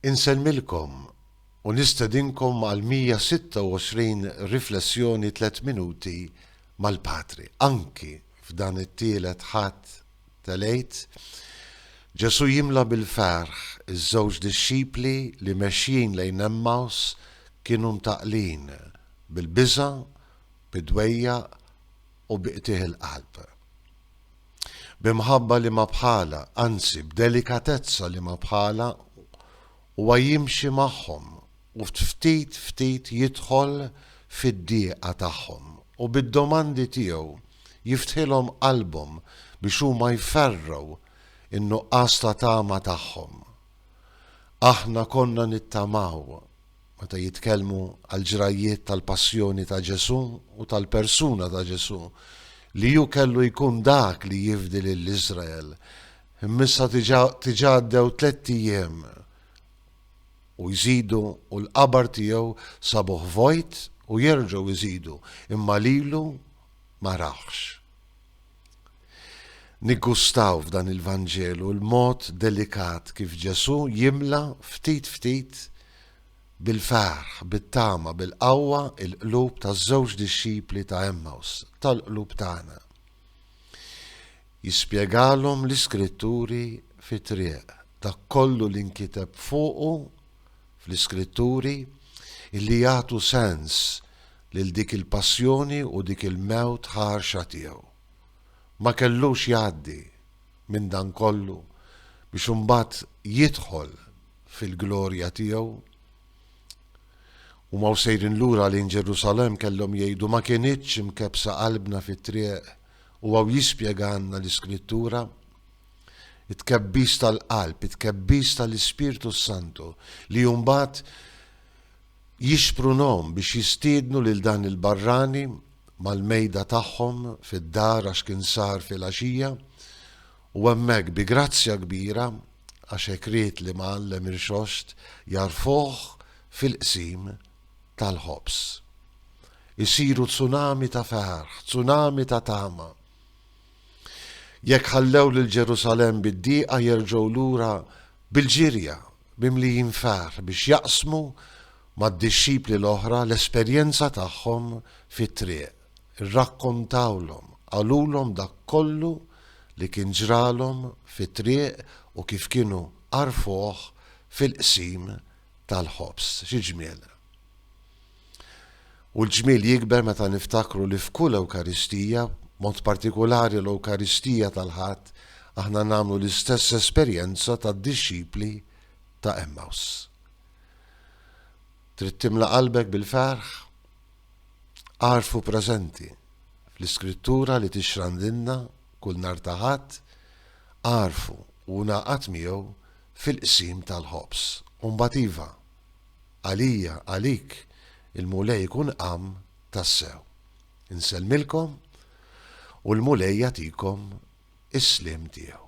Insellmilkom u nistedinkom għall-126 Riflessjoni Tliet Minuti mal-Patri. Anki f'dan it-Tielet Ħadd tal-Għid, Ġesù jimla bil-ferħ iż-żewġ dixxipli li mexjin lejn Emmaws kienu mtaqqlin bil-biża', bid-dwejjaq u bi qtigħ il-qalb. B'imħabba li ma bħalha, anzi b'delikatezza li ma bħalha, huwa jimxi magħhom u ftit ftit jidħol fid-dieqa tagħhom u bid-domandi tiegħu jiftħilhom qalbhom biex huma jferrgħu n-nuqqas ta' tama tagħhom. Aħna konna nittamaw Meta jitkellmu għall-ġrajjiet tal-passjoni ta' Ġesù u tal-persuna ta' Ġesù, li hu kellu jkun dak li jifdi lil Iżrael, imma issa diġà għaddew tlett ijiem u jżidu u l-qabar tiegħu sabuh vojt u jerġgħu jżidu imma lilu ma rawhx. Niggustaw f'dan il-Vanġelu l-mod delikat kif Ġesù jimla ftit ftit bil-ferħ, bit-tama, bil-qawwa l-qlub taż-żewġ dixxipli ta' Għemmaws, tal-qlub tagħna. Jispjegalhom l-Iskritturi fit-triq, dak kollu li nkiteb fuqu fl-Iskritturi, illi jagħtu sens lil dik il-passjoni u dik il-mewt ħarxa tiegħu. Ma kellux jgħaddi minn dan kollu biex imbagħad jidħol fil-glorja tiegħu? Huma u sejrin lura lejn Ġerusalemm kellhom jgħidu ma kinitx imkebbsa qalbna fit-triq u hawn jispjegalna l-Iskrittura. It-tkebbis tal-qalb, it-tkebbis tal-Ispirtu s-Santu li mbagħad jixprunhom biex jistiednu lil dan il-barrani mal-mejda tagħhom fid-dar għax kien sar filgħaxija u hemmhekk bi grazzja kbira għax hekk ried l-Imgħallem Irxoxt jagħrfuh fil-qsim tal-ħobż. Isiru tsunami ta' ferħ, tsunami ta' tama. Jekk ħallew lil Ġerusalemm bid-diqa jerġgħu lura bil-ġirja, mimlijin ferħ biex jaqsmu mad-dixxipli l-oħra l-esperjenza tagħhom fit-triq. Irrakkontawlhom, qalulhom dak kollu li kien ġralhom fit-triq u kif kienu għarfuh fil-qsim tal-ħobż. Xi ġmiel! U l-ġmiel jikber meta niftakru li f'kull Ewkaristija, b'mod partikulari l-Ewkaristija tal-Ħadd, aħna nagħmlu l-istess esperjenza tad-dixxipli ta' Emmaus. Trid timla qalbek bil-ferħ? Agħrfu preżenti fl-Iskrittura li tixrandilna kull nhar ta' Ħadd, agħrfu u ngħaqad miegħu fil-qsim tal-ħobż. U mbagħad iva, Għalija, għalik, il-Mulej ikun qam tassew. Insellmilkom u l-Mulej jagħtikom is-sliem tiegħu.